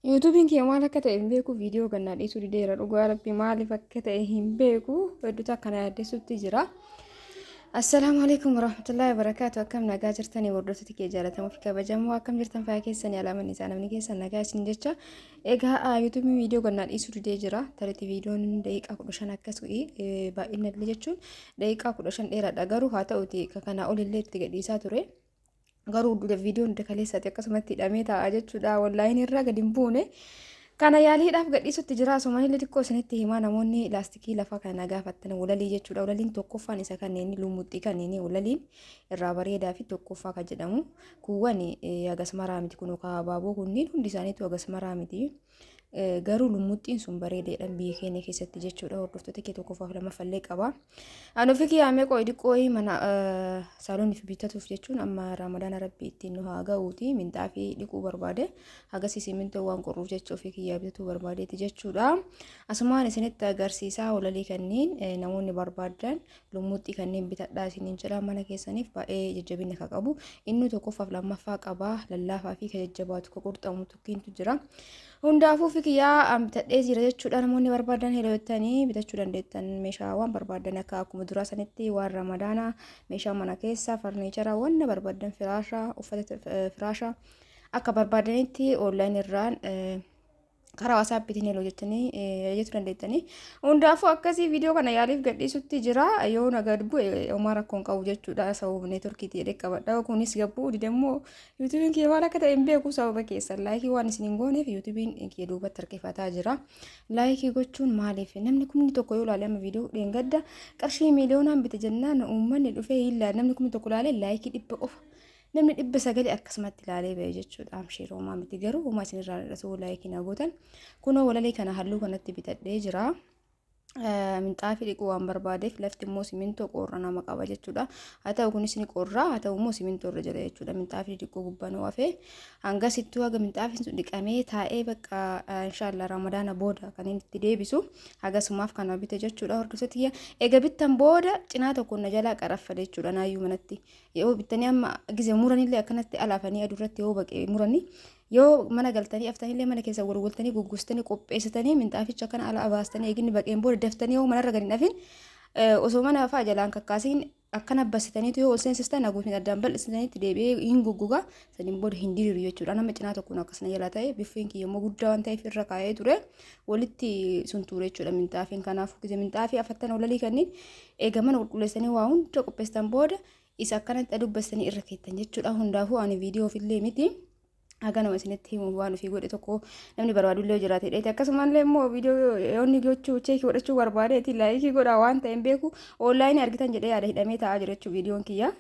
Yuutuubiin kiyya maal akka ta'e hin beeku viidiyoo gannaa dhiisuu dideera dhugaa rabbi maaliif akka ta'e hin beeku hedduutu akkana yaaddessutti jira. Assalaamu alaikum warahmatullahi wabarakaatu akkam nagaa jirtanii hordoftoota kee jaalatamoo fi kabajamoo akkam jirtan fayyaa keessanii alaaman isaa namni keessan nagaa isin jecha egaa yuutuubiin viidiyoo gannaa dhiisuu didee jira tariitii viidiyoon daqiiqaa kudha shan akkas ta'e baay'inallee jechuun daqiiqaa kudha shan dheeraadha garuu haa ta'uti kanaa olillee itti gadhiisaa ture. garuu viidiyoon hunda kaleessaati akkasumatti hidhamee taa'aa jechuudha wallaahin irraa gadi hin buune kana yaaliidhaaf gadhiisutti jira asumanillee xiqqoo isinitti himaa namoonni laastikii lafa kana gaafattan walalii jechuudha walaliin tokkoffaan isa kanneen lumuxxii kanneen walaliin irraa bareedaa fi tokkoffaa kan jedhamu kuuwwan agasmaraa miti kun kaababoo kunniin hundi isaaniitu agasmaraa miti. Garuu lummuxxiin sun bareedeedhaan biyya keenya keessatti jechuudha. Hordoftoota kee tokkoffaaf lammaffallee qaba. An ofii kiyyaamee qo'e diqqoo mana saalooniif bitatuuf jechuun amma ramadaan rabbi ittiin nu haa ga'uuti minxaa fi dhiquu barbaade hagas simintoo waan qorruuf jecha ofii kiyyaa bitatuu barbaadeeti jechuudha. Asumaan isinitti agarsiisaa walalii kanneen namoonni barbaadan lummuxxii kanneen bitadhaa isiniin jedha mana keessaniif baay'ee jajjabina kan qabu inni tokkoffaaf lammaffaa qaba lallaafaa fi kan jajjabaatu kan qurxamutu Kiintu jira. Hundaafuu fikiyyaa an bitadhee jira jechuudha namoonni barbaadan hiriyottanii bitachuu dandeettan meeshaa waan barbaadan akka akkuma duraa sanitti waan ramadaana meeshaa mana keessaa farniichara wanna barbaadan firaasha uffata eh, firaasha akka barbaadanitti onlaayin irraan eh, karaa wasaappiitiin heloo jettanii eh, jechuu dandeettanii hundaafuu akkasii viidiyoo kana yaaliif gadhiisutti jira yoo na gad bu'e homaa rakkoon qabu jechuudha sababa neetworkiitii jedhee qabadha kunis gabbuu didammoo Yuutubiin kiyya maal akka ta'e hin beeku sababa keessan laayikii waan isin hin gooneef yuutubiin kiyya duubatti harkifataa jira. Laayikii gochuun maaliif namni kumni tokko yoo ilaale amma viidiyoo dheengadda qarshii miiliyoonaan bite jennaan uummanni dhufee hin ilaale namni kumni tokko ilaalee laayikii dhibba qofa. Namni dhibba sagalee akkasumatti ilaalee ba'e jechuudha. Amshiir homaa miti garuu homaa isin irraa dhadhasuu laayikii na gootan. Kunoo walalee kana halluu kanatti bitadhee jira. minxaafii dhiquu waan barbaadeef lafti immoo simintoo qorra nama qaba jechuudha. Haa ta'u kunis ni qorra haa ta'u immoo simintoo irra jira jechuudha. Minxaafii dhiquu gubbaan wafe hanga sittuu haga minxaafiin sun dhiqamee taa'ee bakka inshaallah ramadaana booda kan inni itti deebisu haga sumaaf kana bite jechuudha hordoftoota kiyya. Egaa bittan booda cinaa tokko na jalaa qaraffa jechuudha naayyuu manatti. Yoo bittanii amma gize muranillee akkanatti alaafanii aduu irratti yoo baqee muranii Yoo mana galtanii aftanillee mana keessa golgoltanii gugguustanii qopheessitanii minxaaficha kana ala abaastanii eeginni baqeen booda daftanii yoo manarra gadi hin dhafin osoo mana fa'aa jalaan kakkaasiin akkana bassitaniitu yoo ol seensistan haguutiin addaan bal'isitaniitti deebi'ee hin gugguga saniin booda hin diriiru jechuudha. Nama cinaa tokkoon akkasana jala ta'e biffeen kiyya immoo guddaa waan ta'eef irra kaa'ee ture walitti sun ture jechuudha minxaafiin kanaaf gise minxaafii afattan olalii kanniin eega mana qulqulleessanii waa hunda qopheessitan booda isa akkanatti adubbastanii irra keettan jechuudha hundaafuu ani viidiyoof illee miti haganuma isinitti himuuf waan ofii godhe tokko namni barbaadu illee jiraate dheete akkasumallee immoo viidiyoo yoonni gochuu cheekii godhachuu barbaadeeti laayikii godhaa waan ta'een beeku oonlaayinii argitan jedhee yaada hidhamee taa'aa jira jechuu viidiyoon kiyya.